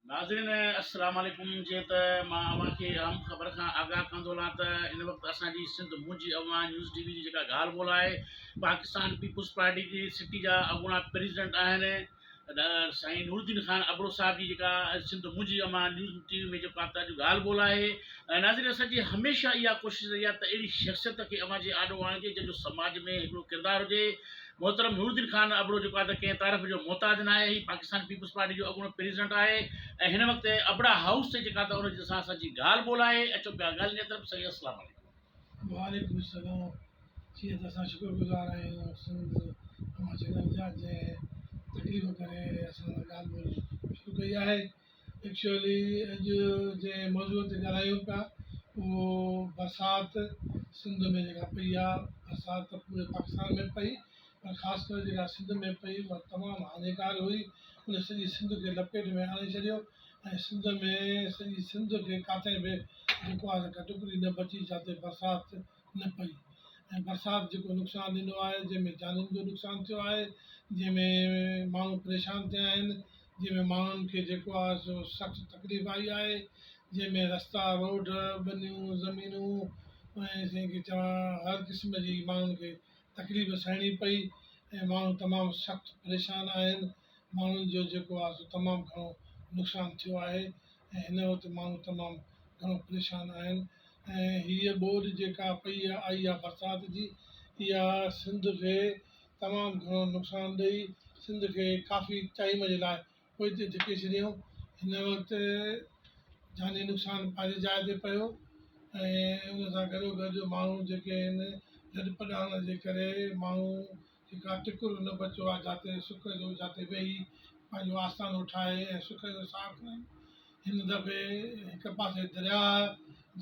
ناظرين السلام عليڪم جيئن ته مان اوهان کي اهم خبر کان آگاهه ڪندو هلان ته ان وقت اسان جي سنڌ منهنجي اوهان نيوز ٽي وي جي جيڪا ڳالهه ٻولهه آهي پاڪستان پيپلز پارٽي جي سٽي جا اڳوڻا پريزيڊنٽ آهن سائين نور الدين خان ابڙو صاحب جي جيڪا سنڌ منهنجي اوهان نيوز ٽي وي ۾ جيڪو آتا جو ڳالهه ٻولهه آهي ۽ ناظرين اسان جي هميشه اها ڪوشش رهي آهي ته اهڙي شخصيت کي اوهان جي آڏو آڻجي جنهن جو سماج ۾ هڪڙو ڪردار هجي محترم نورالدين خان ابڙو جيڪو آهي ته ڪنهن تعرف جو محتاج ناهي، هي پاڪستان پيپلز پارٽي جو اڳوڻو پريزيڊنٽ آهي ۽ هن وقت ابڙا هائوس تي جيڪا ته ان جي سان اسان جي ڳالهه ٻولهه آهي، اچو پيا ڳالهين جي طرف، سائين السلام عليڪم. وعليڪم السلام جيئن ته اسان شڪر گذار آهيون سنڌ اوهان چينل جا جنهن تڪليف ڪري اسان سان ڳالهه ٻولهه شروع ڪئي آهي ايڪچوئلي اڄ جنهن موضوع تي ڳالهايون پيا اهو برسات سنڌ ۾ جيڪا پئي آهي برسات ته پوري پاڪستان ۾ پئي پر خاص ڪري جيڪا سنڌ ۾ پئي اها تمام هاڃيڪار هئي ان سڄي سنڌ کي لپيٽ ۾ آڻي ڇڏيو ۽ سنڌ ۾ سڄي سنڌ کي ڪاٿي به جيڪو آهي سا ڪا ٽڪري نه بچي جتي برسات نه پئي ۽ برسات جيڪو نقصان ڏنو آهي جنهن ۾ جانين جو نقصان ٿيو آهي جنهن ۾ ماڻهو پريشان ٿيا آهن جنهن ۾ ماڻهن کي جيڪو آهي سو سخت تڪليف آئي آهي جنهن ۾ رستا روڊ ٻنيون زمينون ۽ سائين ڪي چوان هر قسم جي ماڻهن کي تڪليف سهڻي پئي ۽ ماڻهو تمام سخت پريشان آهن ماڻهن جو جيڪو آهي سو تمام گهڻو نقصان ٿيو آهي ۽ هن وقت ماڻهو تمام گهڻو پريشان آهن ۽ هيء ٻوڏ جيڪا پئي آئي آهي برسات جي اها سنڌ کي تمام گهڻو نقصان ڏئي سنڌ کي ڪافي ٽائيم جي لاء پوئتي ڌڪي ڇڏيائون هن وقت جاني نقصان پنهنجي جاء تي پيو ۽ ان سان گڏو گڏ ماڻهو جيڪي آهن لڏپلاڻ جي ڪري ماڻهو هڪ اها ٽڪرو نه بچو آ، جاتي سڪ جو جاتي ويهي پنهنجو آستانو ٺاهي ۽ سڪ جو ساهه کڻي. هن دفعي هڪ پاسي درياهه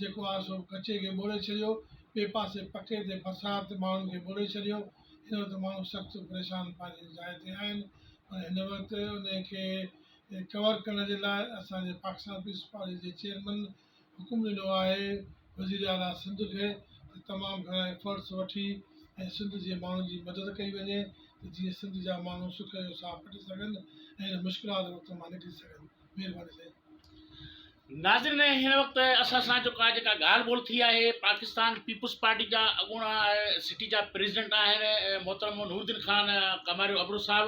جيڪو آ سو ڪچي کي ٻوڙي ڇڏيو، ٻئي پاسي پڪي تي برسات ماڻهن کي ٻوڙي ڇڏيو. هن وقت ماڻهو سخت پريشان پنهنجي جاء تي آهن، پر هن وقت انهي کي ڪور ڪرڻ جي لاء اسان جي پاڪستان پيپلز پارٽي جي چيئرمن حڪم ڏنو آهي وزير اعليٰ سنڌ کي ته تمام گهڻا ايفرٽس وٺي ۽ سنڌ جي ماڻهن جي مدد ڪئي وڃي ته جيئن سنڌ جا ماڻهو سک جو ساهه پٽي سگهن ۽ هن مشڪلات وقت مان نڪري سگهن مهرباني سائين. ناظرين هن وقت اسان سان جيڪا جيڪا ڳالهه ٻولهه ٿي آهي پاڪستان پيپلز پارٽي جا اڳوڻا سٽي جا پريزيڊنٽ آهن محترم نور الدين خان ڪماريو ابڙو صاحب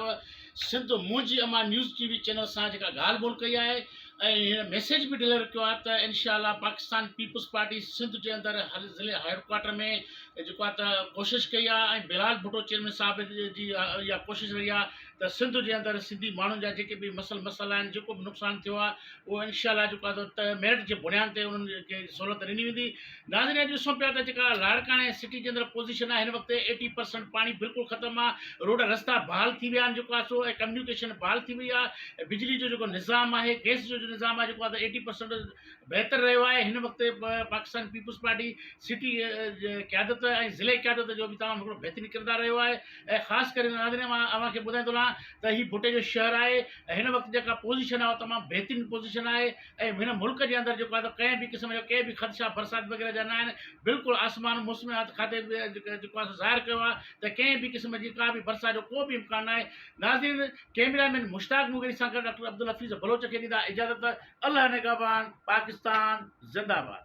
سنڌ منهنجي امان نيوز ٽي وي چينل سان جيڪا ڳالهه ٻولهه ڪئي آهي ۽ هن ميسيج به ڊليور ڪيو آهي ته انشاء الله پاڪستان پيپلز پارٽي سنڌ جي اندر هر ضلعي هيڊڪوارٽر ۾ جيڪو آهي ته ڪوشش ڪئي آهي ۽ بلال ڀٽو چيئرمين صاحب جي اها ڪوشش رهي آهي ته سنڌ جي اندر سنڌي ماڻهن جا جيڪي به مسئل مسئلا آهن جيڪو به نقصان ٿيو آهي اهو انشاء الله جيڪو آهي سو ميرٽ جي بنياد تي انهن کي سهولت ڏني ويندي ناظرين اڄ ڏسون پيا ته جيڪا لاڙڪاڻي سٽي جي اندر پوزيشن آهي هن وقت ايٽي پرسنٽ پاڻي بلڪل ختم آهي روڊ رستا بحال ٿي ويا آهن جيڪو آهي سو ڪميونيڪيشن بحال ٿي وئي آهي بجلي جو جيڪو نظام آهي گيس جو جو نظام آهي جيڪو آهي ايٽي پرسنٽ بهتر رهيو آهي هن وقت پاڪستان پيپلز پارٽي سٽي قيادت ۽ ضلعي قيادت جو بي تمام هڪڙو بهترين ڪردار رهيو آهي ۽ خاص ڪري ناظرين مان اوهان کي ٻڌائي ٿو لهان ته هي ڀٽي جو شهر آهي ۽ هن وقت جيڪا پوزيشن آهي اها تمام بهترين پوزيشن آهي ۽ هن ملڪ جي اندر جيڪو آهي ڪنهن به قسم جا ڪي به خدشا برسات وغيره جا ناهن بلڪل آسمان موسميات کاتي به جيڪو آهي ظاهر ڪيو آهي ته ڪنهن به قسم جي ڪا به برسات جو ڪو به امڪان ناهي ناظرين ڪيميرا مين مشتاق مغيري سان گڏ ڊاڪٽر عبدالحفيظ بلوچ کي ڏيندا اجازت الله نگهبان پاڪستان زنده باد